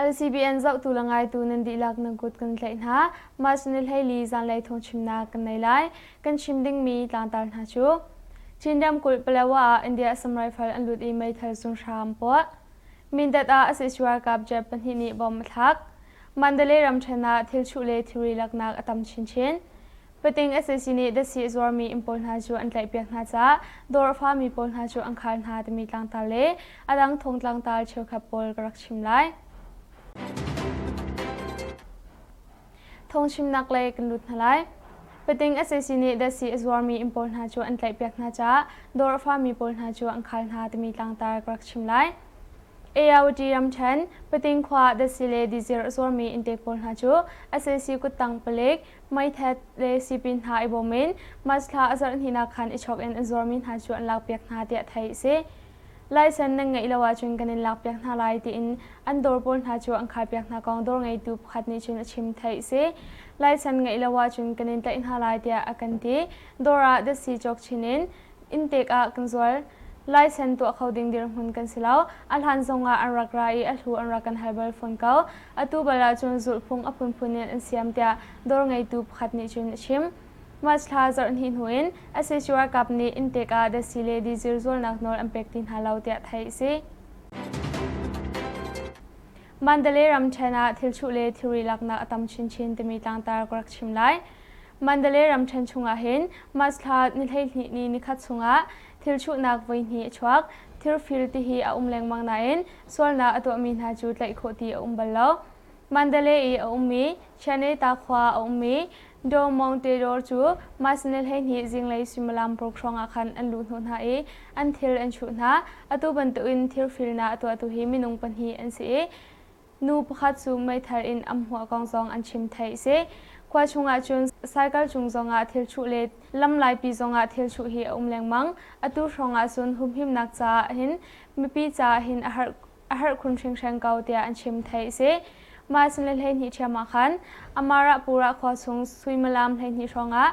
LCBN zohtu le ngaitu nan dihlak na kut kan tlaih hna. Mas ni hleili zanlei thong chimnak kan nei lai. Kan chim dingmi tlangtar hna cu Chin ramkulh Palawa ah India assam rifle an lut i meithal zung hram an puah. Mindat ah a si ralkap jet pahnih nih bom a thlak. Mandalay ramṭhen ah thilchuh le thilri laknak a tam chinchin. Pating sac nih dasi a zuarmi inn pawl hna cu an tlaihpiak hna caah dawr a fami pawl hna cu an khar hna timi tlangtar le a dang thong tlangtar cheukhat pawl ka rak chim lai. Thong chimnak lei kan lut hna lai. Pating sac nih dasi a zuarmi inn pawl hna cu an tlaihpiak hna caah dawr a fami pawl hna cu an khar hna timi tlangtar ka rak chim lai. ALD ramṭhen, Pating khua dasile dizir a zuarmi innte pawl hna cu SAC kuttang palik, meithet le sipin hna i bawm in March thla a zarh hninak khan i chawk in an zuarmi hna cu an lakpiak hna tiah theih a si. Laisen nan ngeih lo ahcun kan in lakpiak hna lai tiin an dawr pawl hna cu an khaipiak hna kong dawr ngeitu pakhat nih cun a chim theih a si. Laisen ngeih lo ahcun kan in tlaih hna lai tiah a kan ti. Dawr ah dasi cawk chin in inn pek ah kan zual. Laisen tuah kho ding dirhmun kan si lo. A hlan zong ah an rak ra i a hlu an rak kan hal bal fawn ko. Atu bal ahcun zulhphung a phunphun in an siam tiah dawr ngeitu pakhat nih cun a chim. March thla zarh hnih hnu in sac ralkap nih inn pek ah dasi le dizir zualnak nawl an pek ti hna lo tiah theih a si. Mandalay ramṭhen ah thil chuh le thilri laknak a tam chinchin timi tlangtar ka rak chim lai. Mandalay ramṭhen chungah hin March thla ni hleihnih ni nikhat chungah thil chuhnak voihnih a chuak. Thir fir ti hi a um lengmang nain sualnak a tuahmi hna cu tlaih khawh ti a um bal lo. Mandalay i a ummi Chianeta khua a ummi Do Mount Tedor cu March ni hleihnih zinglei suimilam paruk hrawngah khan an luh hnawh hna i an thil an chuh hna. Atu bantukin thir firnak a tuahtu hi minung pahnih an si i Nu pakhat cu meithal in a hmuah kong zong an chim theih si. Khua chungah cun cycle cung zongah thil chuh le lamlaipi zongah thil chuh hi a um lengmang. Atu hrawngah cun humhimnak caah hin mipi caah hin a har a harh khun hringhreng ko tiah an chim theih si. Mah a sin le hleihnih ṭhiam ah khan Amarahpura khua chung suimilam hleihnih hrawngah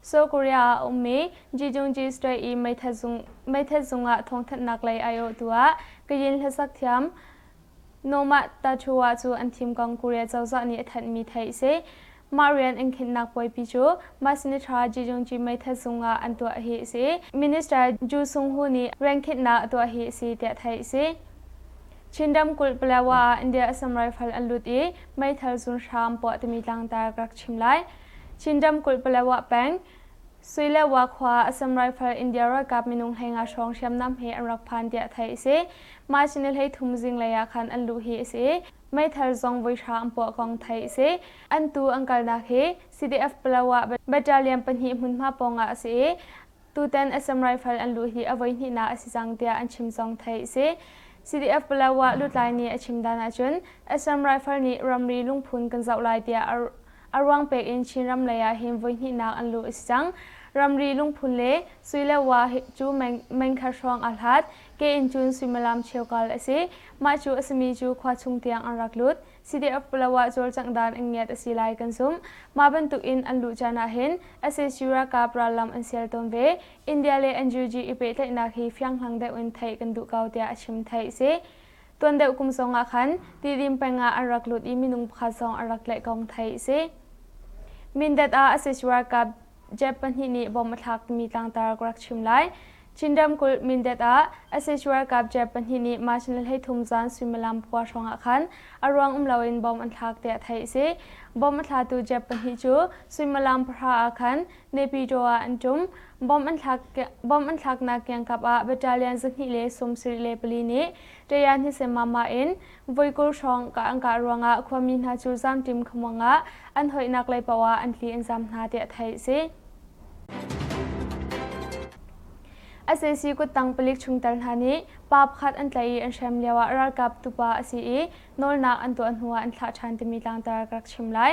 Seoul Korea ah a ummi Ji-Jung-ji Strait i meithet zung ah thawngthanhnak lei aiawhtu ah Kayin hlasak thiam Nomah Tachowa cu an thim kong Korea cozah nih a thanhmi theih a si. Mah rian an khinhnak puaipi cu Masnitra Ji-Jung-ji meithet zung ah an tuah hi a si. Minister Ju Sung-hu nih riankhinhnak a tuah hi a si tiah theih a si. Chin ramkulh Palawa ah India assam raifal an lut i meithal zun hram puah timi tlangtar ka rak chim lai. Chin ramkulh Palawa peng Suilehwa khua Assam Rifle India ralkap minung hlenga hrawng hriamnam he an rak phan tiah theih a si. Mah chin hlei thum zinglei ah khan an luh hi a si. Meithal zong voi hra an puah kong theih a si. An tu an kalnak hi CDF Palawa battalion pahnih hmunhma pawng ah a si i Tutan SM Rifle an luh hi a voi hnihnak a si cang tiah an chim zong theih a si. CDF Palawa lutlai nih a chim dan ahcun SM Rifle nih ramri lungphun kan zoh lai tiah a ruang pek in Chinram lei ah hin voi hnihnak an luh a si cang. Ramri lungphun le sui le wa cu mengkhat hrawng aa hlat. Ke in cun suimilam cheukal a si. Mah cu a simi cu khua chung tiang an rak lut. City of Palawa cawlcanghdan an ngiat a si lai kan zumh. Mah bantukin an luh caan ahhin sac ralkap rallam an sial tawn ve. India le NUG i pehtlaihnak hi fianghlang deuh in theih kan duh ko tiah a chim theih a si. Tuan deuh kum zong ah khan Tidim peng ah an rak lut i minung pakhat zong an rak tlaih kong theih a si. Mindat ah sac ralkap Jeb pahnih nih bom a thlakmi tlangtar ka rak chim lai. Chin ramkulh Mindat ah SH ralkap Jeb pahnih nih March ni le hleithum zan suimilam khua hrawng ah khan a ruang um loin bom an thlak tiah theih a si. Bom a thlatu Jeb pahnih cu suimilam pahra ah khan Nepyitaw ah an ṭum. Bom an thlak bom an thlaknak kiangkap ah battalion zahnih le sum sarih le pali nih Ṭaya Hnisemama in voi kul hrawng ka an kah ruangah khuami hna cu zamṭim khamuang ah an hoihnak lei paoh ah an tli in zam hna tiah theih a si. SAC kuttang palik chungtel hna nih pa pakhat an tlaih i an hrem lio ah ralkap tupa a si i nawlnak an tuah hnu ah an thlah ṭhan timi tlangtar ka rak chim lai.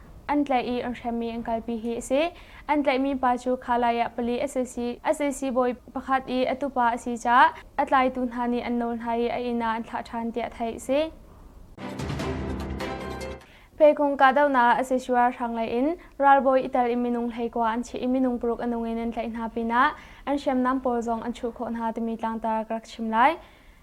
an tlaih i an hremmi an kalpi hi a si. An tlaihmi pa cu kha lai ah pali SAC, SAC bawi pakhat i a tupa a si caah a tlaitu hna nih an nawl hna i a inn ah an thlah ṭhan tiah theih a si. Pekung kahdohnak Asesio ralhrang lei in ralbawi itel in minung hleikua an chiah i minung paruk a nung in an tlaih hna pinah an hriamnam pawl zong an chuh khawh hna timi tlangtar ka rak chim lai.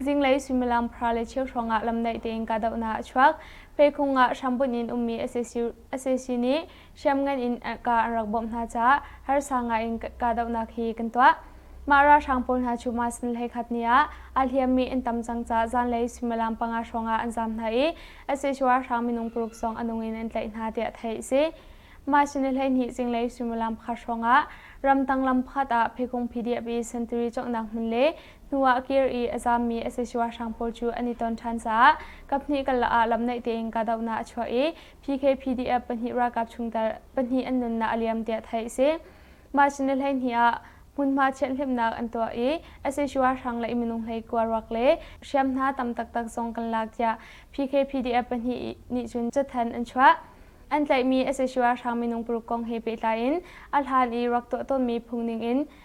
zinglei suimilam phra le cheu hrawngah lamnaih tein kahdohnak a chuak. Pheikhung ah hrambunh in ummi asesi nih hriamngan in ka an rak bawmh hna caah harsa ngai in kahdohnak hi kan tuah. Mah ralhrang pawl hna cu mas ni hlei khat ni ah aa hliammi an tam cang caah zanlei suimilam panga hrawngah an zaam hna i asesi ralhrang minung paruk zong a nung in an tlaih hna tiah theih a si. Mah sin i hleihnih zinglei suimilam pakhat hrawngah ramtang lam pakhat ah pheikhung PDF i sentiri conghnak hmun le hnu ah kir i a zaammi sac ralhrang pawl cu an i ton ṭhan caah kaphnih karlak ah lamnaih tein kahdohnak a chuah i PKPDF pahnih ralkap chungtel pahnih an nunnak a liam tiah theih a si. March ni hleihnih ah hmunhma thianhhlimhnak an tuah i sac ralhrang le minung hleikua ruak le hriam hna tam taktak zong kan lak tiah PKPDF pahnih nih cun cathanh an chuah. An tlaihmi sac ralhrang minung paruk kong he pehtlai in a hlan i rak tuah tawnmi phung ning in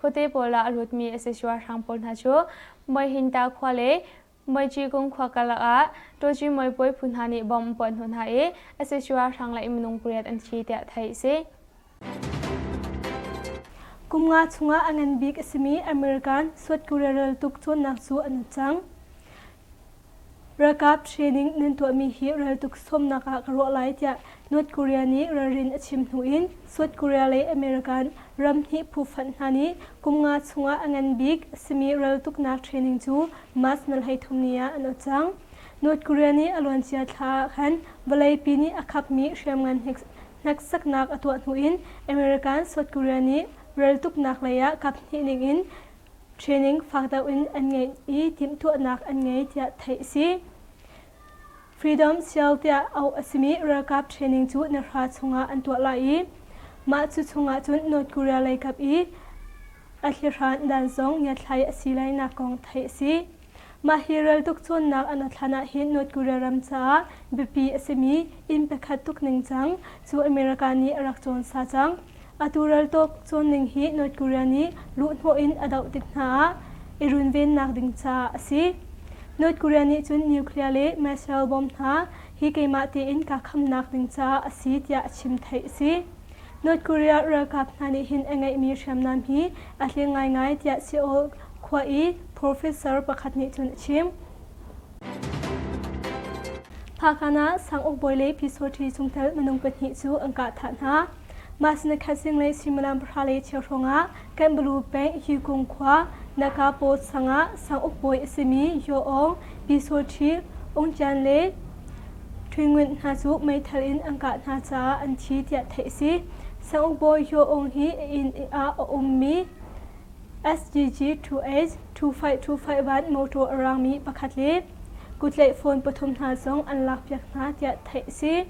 Khuate pawl ah a lutmi Asesua hrang pawl hna cu Muihinta khua le Muichikung khua karlak ah Ṭawṭimuai puai phu hna nih bom an puah hnu hna i Asesua hrang le minung pariat an thi tiah theih a si. Kum nga chungah a ngan bik a simi American South Korea raltuk cawnnak cu an uk cang. Ralkap training nan tuahmi hi raltuk sawmnak ah ka ruah lai tiah North Korea nih ralrin a chim hnu in South Korea le American ramhnih phuhfanh hna nih kum nga chungah a ngan bik a simi raltuknak training cu March ni hleithum ni ah an ot cang. North Korea nih a luancia thla ah khan vawleipi nih a khapmi hriamngan hneksaknak a tuah hnu in American South Korea nih raltuknak lei ah kap hnih ning in training fak deuh in an ngei i timhtuahnak an ngei tiah theih a si. Freedom Seal tiah auh a simi ralkap training cu na hra chungah an tuah lai i mah cu chungah cun North Korea leikap i a thlihran dan zong ngiatthlai a si lai nak kong theih a si. Mah hi reltuk cawnnak an a thlan ah hin North Korea ram caah biapi a simi inn pakhat tuk ningcang cu America nih a rak cawn sa cang. Atu reltuk cawnning hi North Korea nih luhhnawh in a doh tik hna ah i runvennak ding caah a si. North Korea nih cun nuclear le missile bomb hna hi keimah tein kaa khamnak ding caah a si tiah a chim theih a si. North Korea ralkap hna nih hin a ngeihmi hriamnam hi a tling ngaingai tiah Seoul khua i professor pakhat nih cun a chim. Phakan ah sangukbawi le pisotri chungtel minung pahnih cu an kah thah hna. Mah sinah khat singlei suimilam pahra le cheu hrawng ah Kanbalu peng Hikung khua Nakapaw sang ah sanguk bawi a simi Yaw Aung, Pi Saw Ṭhit, Ung Cian le Ṭhun Ngunt hna cu meithal in an kah hna caah an thi tiah theih a si. Sanguk bawi Yaw Aung hi a inn ah a ummi SGG 2H 2525 van motor a raangmi pakhat le kuttlaih phone pathum hna zong an lakpiak hna tiah theih a si.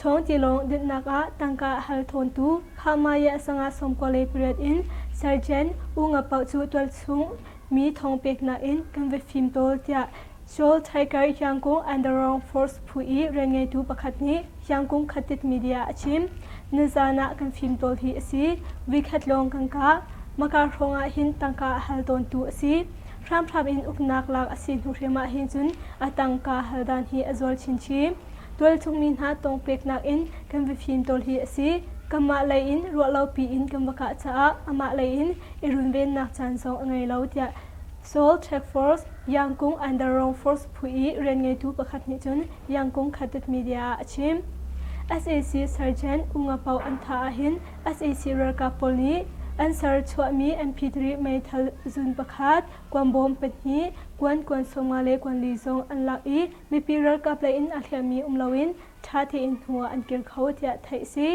Chawngcilawng dinhnak ah tangka a hal thawntu Khahmaya sangah sawmkua le pariat in Sergeant U Nga Poh cu tualchung mi thawng peknak in kan va fim tawl tiah Seoul Tiger Yangon Underground Force phu i rianngeitu pakhat nih Yangon Khatit media a chim. Nizaan ah kan fim tawl hi a si. Weekend lawng kan kah. Maka hrawng ah hin tangka a hal tawntu a si. Hramhram in uknak lak a si hnu hrim ah hin cun a tangka hal dan hi a zual chinchin. Tualchungmi hna tawng peknak in kan va fimtawl hi a si. Kanmah lei in ruah lo piin kan va kah caah amah lei in i runvennak caan zong a ngei lo tiah Seoul Track Force Yangkung Underwrong Force phu i rianngeitu pakhat nih cun Yangkung Khatet Media ah a chim. SAC Sergeant Ungapao Antha ahhin SAC ralkap pawl nih an ser chuahmi MP3 meithal zun pakhat, kuan bawm pahnih, kuan kuan sawmnga le kuan li zong an lak i Mipi ralkap lei in a hliammi um loin ṭha tein hnu ah an kir kho tiah theih a si.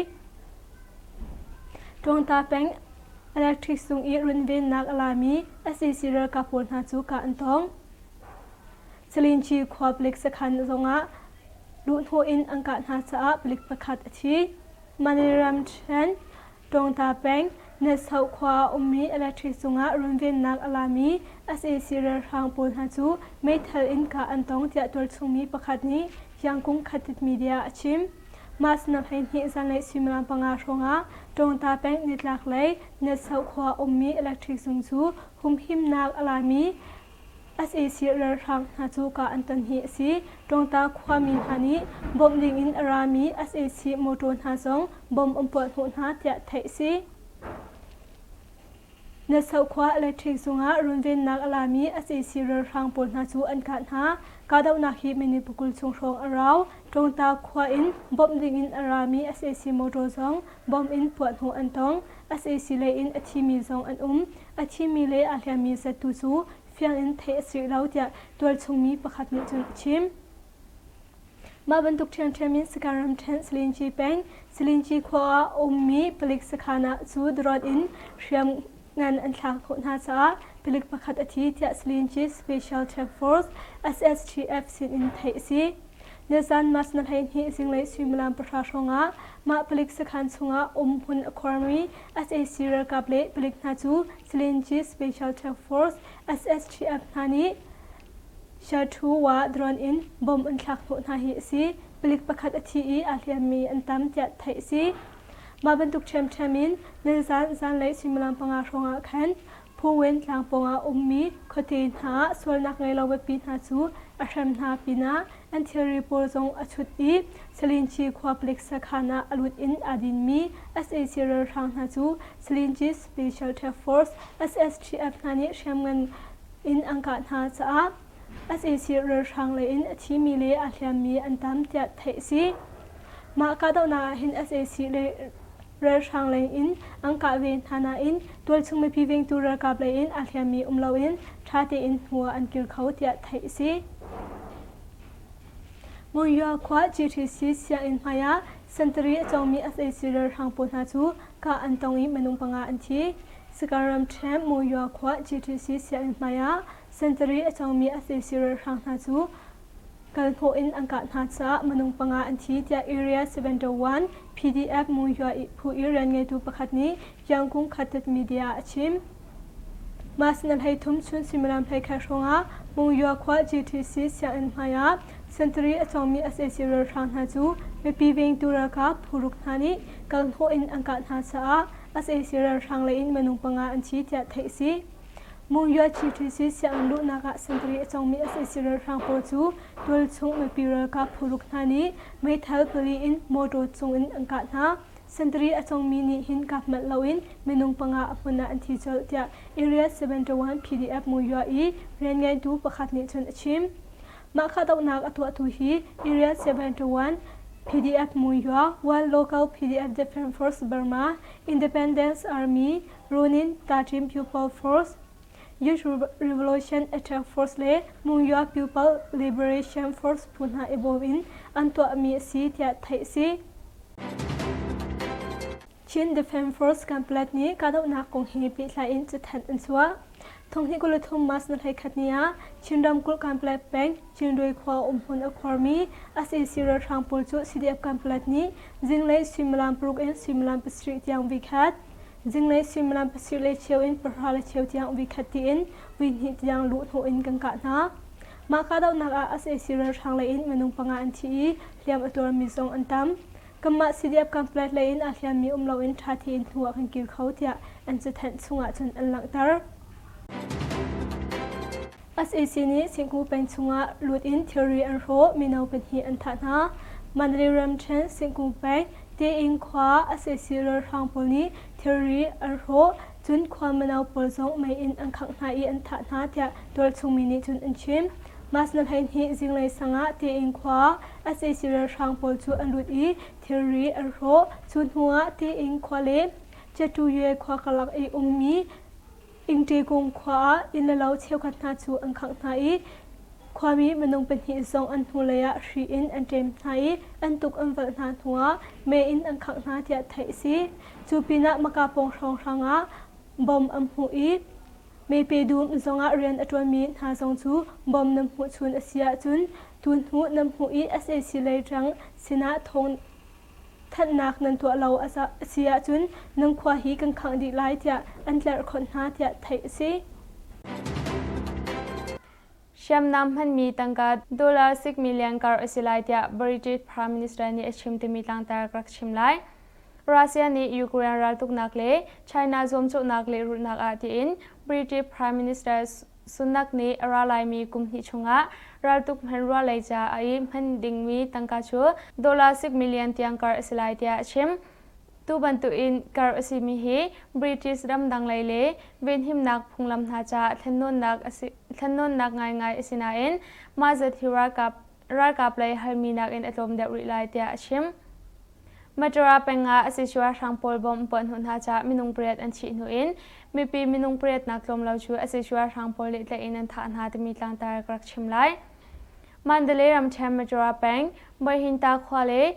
Ṭuangta peng electric sung i runvennak a lami SAC ralkap pawl hna cu kah an tawng. Salinci khua palik sakhan zongah luhhnawh in an kah hna caah palik pakhat a thi. Maniramchand Ṭawngta peng, Netsau khua a um mi electric cungah runvennak a la mi sac ralhrang pawl hna cu meithal in kah an tong tiah tualchungmi pakhat nih Thiangkung Khatit Media a chim. Mah sinah hleihnih zanlei suimilam panga hrawngah Ṭawngta peng nitlak lei Netsau khua a um mi electric cung cu humhimnak a la mi sac ralhrang hna cu kah an ton hi a si. Tawngta khuami hna nih bawmh dingin a rami sac mawṭaw hna zong bom an puah hnawh hna tiah theih a si. Natso khua electric cungah runvennak a lami sac ralhrang pawl hna cu an kah hna. Kahdohnak hi minit pakul chung hrawng a rau. Tawngta khua in bawmh dingin a rami sac mawṭaw zong bom in puah hnawh an tong. sac leiin a thimi zong an um. A thimi le aa hliammi zat tu cu fiang in theih a si rih lo tiah tualchungmi pakhat nih cun a chim. Mah bantuk ṭhiamṭhiam in Sakaram ṭhen Selinci peng, Selinci khua ah a ummi palik sakhan ah cu drawt in hriam ngan an thlak khawh hna caah palik pakhat a thi tiah Selinci Special Task Force SSTF sin in theih a si. Nizan mas na hleihnih zinglei suimilam pahra hrawngah mah palik sakhan chungah um hmun a khuarmi SAC ralkap le palik hna cu Silinji Special Task Force SSTF hna nih Shathu wa drawn in bomb an thlak hnawh hna hi a si. Palik pakhat a thi i aa hliammi an tam tiah theih a si. Mah bantuk ṭhiamṭhiam in nizan zanlei suimilam panga hrawngah khan Phowen tlang pawng ah ummi khuate hna ah sualnak ngei lo biapi hna cu a hrem hna pinah anthilri pawl zong a chut i Salinci khua palik sakhan ah a lut in aa dinmi sac ralhrang hna cu Salinci Special Task Force SSTF hna nih hriamngan in an kah hna caah SAC ralhrang lei in a thimi le a hliammi an tam tiah theih a si. Mah kahdohnak ah hin sac le ralhrang lei in an kah ve hna nain tualchung mipi vengtu ralkap lei in a hliammi um loin ṭha tein hnu ah an kir kho tiah theih a si. Monywa khua GTC sianginn hmaiah sentari a cawngmi sac ralhrang pawl hna cu kah an tong i minung panga an thi. Sakaram Champ Monywa khua GTC sianginn hmaiah Sentari a cangmi a fe siralh hrang hna cu kalhnawh in an kah hna caah minung panga an thi, tiah Area seven to one PDF Muhua phu i rianngeitu pakhat nih Kyangkung Khatet Media ah a chim. Mas na hlei thum chun suimilam hlei khat hrawngah Mungyua khua GTC sianginn hmaiah sentari a cawngmi sac ralhrang hna cu mipi vengtu ralkap puruk hna nih kalhnawh in an kah hna caah sac ralhrang leiin minung panga an thi tiah theih a si. Mungya TTC sianginn luhnak ah sentari a cangmi sac ralhrang pawl cu tualchung mipi ralkap phuruk hna nih meithal pali in mawtaw cungin an kah hna. Sentari a cangmi nih hin kap manh loin minung panga a hmun ah an thi colh tiah Area 71 PDF Mungya i rianngeitu pakhat nih cun a chim. Mah kahdohnak a tuahtu hi Area 71 PDF Mungya, One Local PDF Defense Force Burma, Independence Army, Run in Kachin People Force, Youth Revolution Attack Force le Mungyoa People Liberation Force phu hna i bawm in an tuahmi a si tiah theih a si. Chin Defence Force Campbellad nih kahdohnak kong he pehtlai in cathanh an chuah. Thonghni kul le thum mas na hlei khat ni ah Chin ramkulh Campbellad peng Chinrui khua um hmun a khuarmi SAC ralhrang pawl cu CDF Campbellad nih zinglei suimilam paruk in suimilam pasarih tiang vi khat Zinglei suimilam pasir le cheu in pahra le cheu tiang vikhat tiin vuihnih tiang luhhnawh in kan kah hna. Mah kahdohnak ah sac ralhrang lei in minung panga an thi i hliam a tuarmi zong an tam. Kanmah CDF campus lei in aa hliammi um loin ṭha tein hnu ah kan kir kho tiah an cathanh chung ahcun an langhter. SAC nih Singku peng chungah lut in thilri an hrawh, mino pahnih an thah hna. Mandalay ramṭhen Singku peng Tein khua SAC ralhrang pawl nih thilri an hrawh, cun khua mino pawl zong mei in an khangh hna i an thah hna tiah tualchungmi nih cun an chim. Mas na hleihnih zinglei sangah Tein khua SAC ralhrang pawl cu an lut i thilri an hrawh. Cu hnuah Tein khua le Cetuyue khua karlak i ummi Inṭekung khua ah innlo cheukhat hna cu an khangh hna i khuami minung pahnih zong an hnulei ah hri in an ṭem hna i an tuk an valh hna hnuah me in an khangh hna tiah theih a si. Cu pinah Maka pawng hrawnghrang ah bom an hmuh i Mepedum zongah rian a ṭuanmi hna zong cu bom nan hmuh chun a si ahcun tun hnu nan hmuh i sac lei ṭang sinah thawng Thanhnak nan tuah lo a si ahcun nan khua hi kan khangh dih lai tiah an tlerh khawnh hna tiah theih a si. Hriamnam hmanmi tangka dollar sik million kar a si lai tiah British Prime Minister nih a chim timi tlangtar ka rak chim lai. Russia nih Ukraine raltuknak le China zuamcawhnak lehrulhnak ah tiin British Prime Minister Sunak nih a ra laimi kum hnih chungah raltuk hmanrua lei ca a i hman dingmi tangka cu dollar sik million tiang kar a si lai tiah a chim. Tu bantukin kar a simi hi British ramdang lei le venhimnak phunglam hna caah thlennawnnak a si, thlennawnnak ngaingai a si nain mah zat hi ralkap ralkap lei halmi nakin a tlawm deuh rih lai tiah a chim. Majora peng ah a sishu ralhrang pawl bom puah hnu hna ca minung pariat an thih hnu in mipi minung pariatnak tlawm lo cu a sishu ralhrang pawl nih tlaih in an thah hna timi tlangtar ka rak chim lai. Mandalay ramṭhen Majora peng Moihinta khua le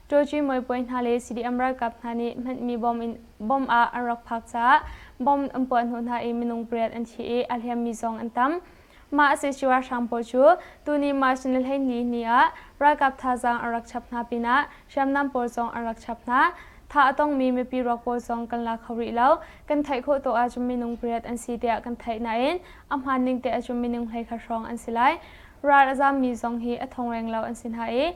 Turkey muipuai hna le CDM ralkap hna nih hmanhmi bomb ah an rak phak caah bomb an puah hnu hna i minung pariat an thi i a hliammi zong an tam. Mah a si cu ralhrang pawl cu tuni March ni le hleihnih ni ah ralkap thazaang an rak chap hna pinah hriamnam pawl zong an rak chap hna. Tha a tongmi mipi ruak pawl zong kan la kho rih lo. Kan theih khawh tawh ahcun minung pariat an si tiah kan theih nain a hmaan ning te ahcun minung hlei khat hrawng an si lai. Ral a zaammi zong hi a thong reng lo an si hna i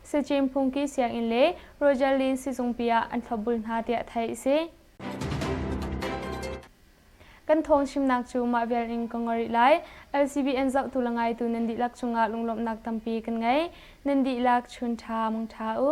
Sachin Phungki sianginn le Rogerlin sizungpi ah an thlawpbul hna tiah theih a si. Kan thawng chimnak cu mah vial in ka ngol rih lai. LCBN zohtu le ngaitu nan dihlak cungah lunglawmhnak tampi kan ngei. Nan dihlak chun ṭha mong ṭha u.